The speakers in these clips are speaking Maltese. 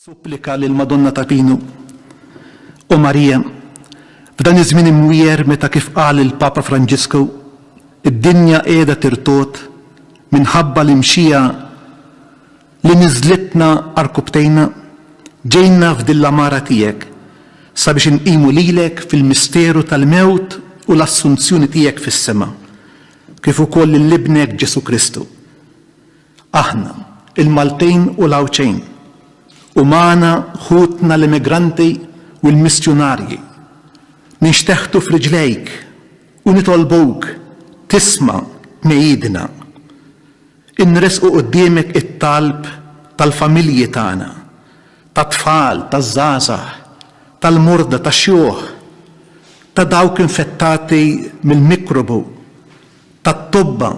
Supplika lill-Madonna ta' Pinu. O Marija, f'dan iż-żmien imwiegħer meta kif qal il-Papa Franġisku, id-dinja qiegħda tirtogħod minħabba l-imxija li niżżlitna għarkupptejna, ġejna f'din l-għamara tiegħek sabiex inqimu lilek fil-misteru tal-mewt u l-assunzjoni tiegħek fis-sema, kif ukoll lil Ibnek Ġesù Kristu. Aħna, il-Maltin u l-Għawdxin, u magħna ħutna l-immigranti u l-missjunarji, ninxteħtu f'riġlejk u nitolbuk tisma' tnegħidna. Inressqu quddiemek it-talb tal-familji tagħna, tat-tfal, taż-żgħażagħ, tal-morda, tax-xjuħ, ta' dawk infettati mill-mikrobu, tat-tobba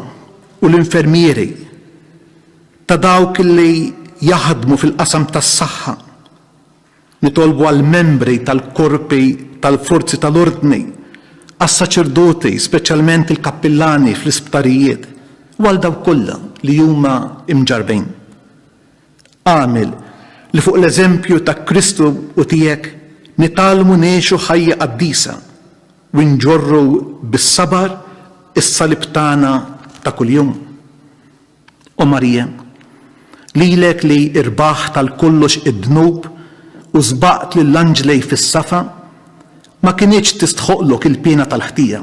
u l-infermieri, ta' dawk li jaħdmu fil-qasam tas-saħħa, nitolbu għall-membri tal-korpi tal-forzi tal-ordni, għas-saċerdoti, speċjalment il-kappillani fl-isptarijiet, u għal dawk kollha li huma mġarrbin. Agħmel li fuq l-eżempju ta' Kristu u tiegħek nitgħallmu ngħixu ħajja qaddisa u nġorru bis-sabar is-salib tagħna ta' kuljum. O Marija, lilek li rbaħt għal kollox id-dnub u sbaqt lill-anġlej fis-safa, ma kinitx tistħoqqlok il-piena tal-ħtija.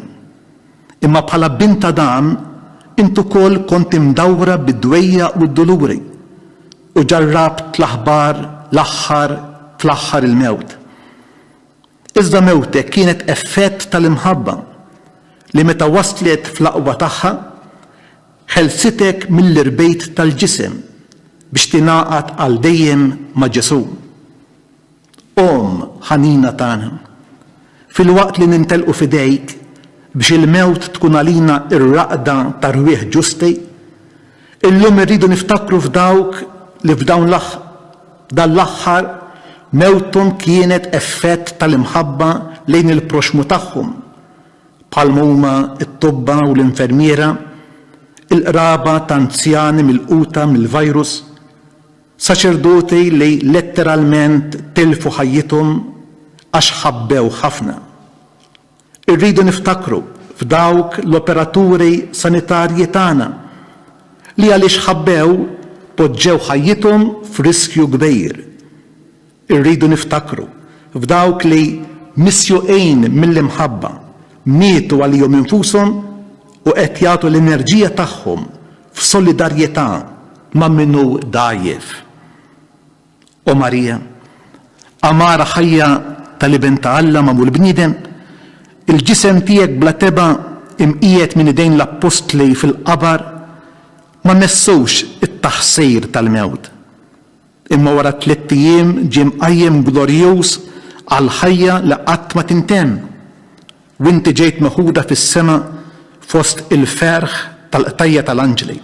Imma bħala bint ta' Dan, int ukoll kont imdawwra bid-dwejjaq u d-duluri, u ġarrabt l-aħbar, l-aħħar fl-aħħar il-mewt. Iżda mewtek kienet effett tal-imħabba, li meta waslet fl-aqwa tagħha, ħelsitek mill-irbejt tal-ġisem biex tingħaqad għal dejjem ma' Ġesù. Omm ħanina tagħna, filwaqt li nintelqu f'idejk biex il-mewt tkun għalina r-raqda t'arwieħ ġusti, illum irridu niftakru f'dawk li f'dawn l dan l-aħħar mewthom kienet effett tal-imħabba lejn il-proxxmu tagħhom, bħalma huma t-tobba u l-infermiera, il-qraba t'anzjani milquta mill-virus, Saċerdoti li letteralment tilfu ħajjithom għax ħabbew ħafna. Irridu niftakru f'dawk l-operaturi sanitarji tagħna li għaliex ħabbew poġġew ħajjithom f'riskju kbir. Irridu niftakru f'dawk li, misjuqin mill-imħabba, mietu għalihom infushom u qed jagħtu l-enerġija tagħhom f'solidarjetà ma' min hu dgħajjef. O Marija, għamara ħajja tal-Iben ta' Alla magħmul bniedem, il-ġisem tiegħek bla tebgħa imqiegħed minn idejn l-appostli fil-qabar ma messux it-taħsir tal-mewt. Imma wara tlitt ijiem ġie mqajjem glorjuż għall-ħajja li qatt ma tintemm, u inti ġejt meħuda fis-sema fost il-ferħ tal-qtajja' tal-anġli.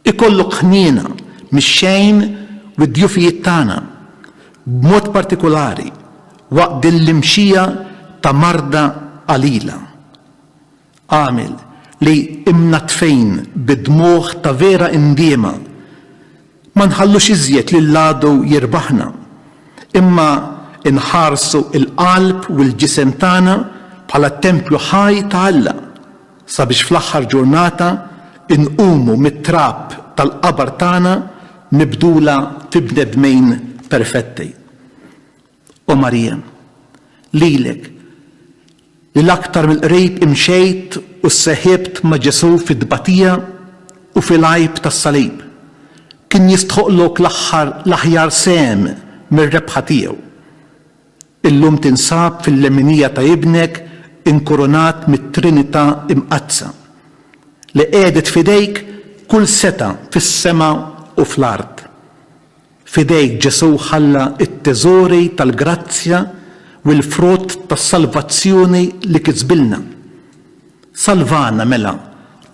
Ikollok ħniena mix-xejn u d-djufijiet tagħna, b'mod partikulari waqt din l-imxija ta' marda qalila. għamil li, imnaddfejn bi dmugħ ta' vera indiema, ma nħallux iżjed lill-għadu jirbaħna, imma nħarsu l-qalb u l-ġisem tagħna bħala t-tempju ħaj ta' Alla, sabiex fl-aħħar ġurnata nqumu mit-trab tal-qabar tagħna mibdula fi bnedmejn perfetti. O Marija, lilek, li l-aktar mill-qrib imxejt u sseħibt ma' Ġesù fit-tbatija u fil-għajb tas-salib, kien jistħoqqlok l-aħħar l-aħjar sehem mir-rebħa tiegħu. Illum tinsab fil-leminija ta' Ibnek inkurunat mit-Trinità Imqaddsa, li qiegħdet f'idejk kull setgħa fis-sema u fl-art. F'idejk Ġesù ħalla t-teżori tal-grazzja u l-frott tas-salvazzjoni li kisbilna. Salvana mela,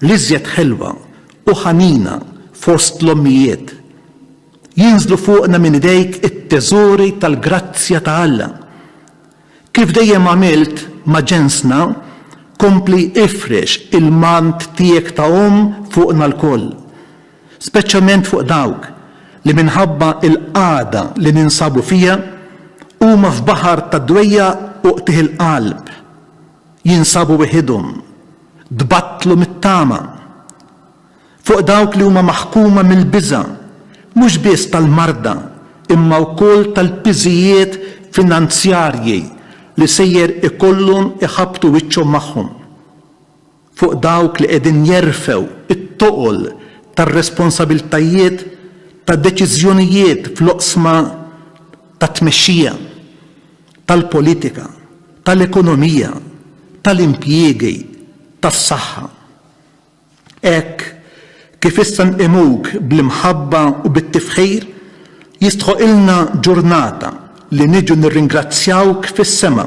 l-iżjed ħelwa u ħanina fost l-ommijiet. Jinżlu fuqna minn idejk it-teżori tal-grazzja ta' Alla. Kif dejjem għamilt ma' ġensna, kompli ifrex il-mant tiegħek ta' omm fuqna lkoll, speċjament fuq dawk li minħabba l-qagħda li ninsabu fiha huma f'baħar ta' dwejjaq u qtigħ il-qalb, jinsabu weħidhom, tbattlu mit-tama. fuq dawk li huma maħkuma mill-biża', mhux biss tal-marda, imma wkoll tal-piżijiet finanzjarji li sejjer ikollhom iħabbtu wiċċhom magħhom, fuq dawk li qegħdin jerfgħu t-toqol tar-responsabbiltajiet ta' deċiżjonijiet fl-oqsma tat-tmexxija, tal-politika, tal-ekonomija, tal-impjiegi, tas-saħħa. Hekk kif issa nqimuk bl-imħabba u bit-tifħir, jistħoqilna ġurnata li niġu nirringrazzjawk fis-sema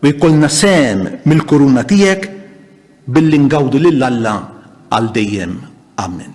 u jkollna sehem mill-kuruna tiegħek billi ngawdu lil Alla għal dejjem. Amen.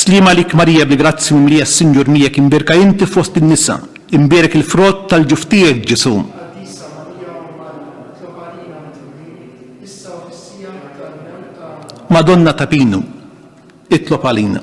Sliem għalik Marija bi grazzji mimlija s-Sinjur miegħek imbierka inti fost in-nisa, imbierek il-frott tal-ġuf tiegħek Ġesù. Madonna ta' Pinu, itlob għalina.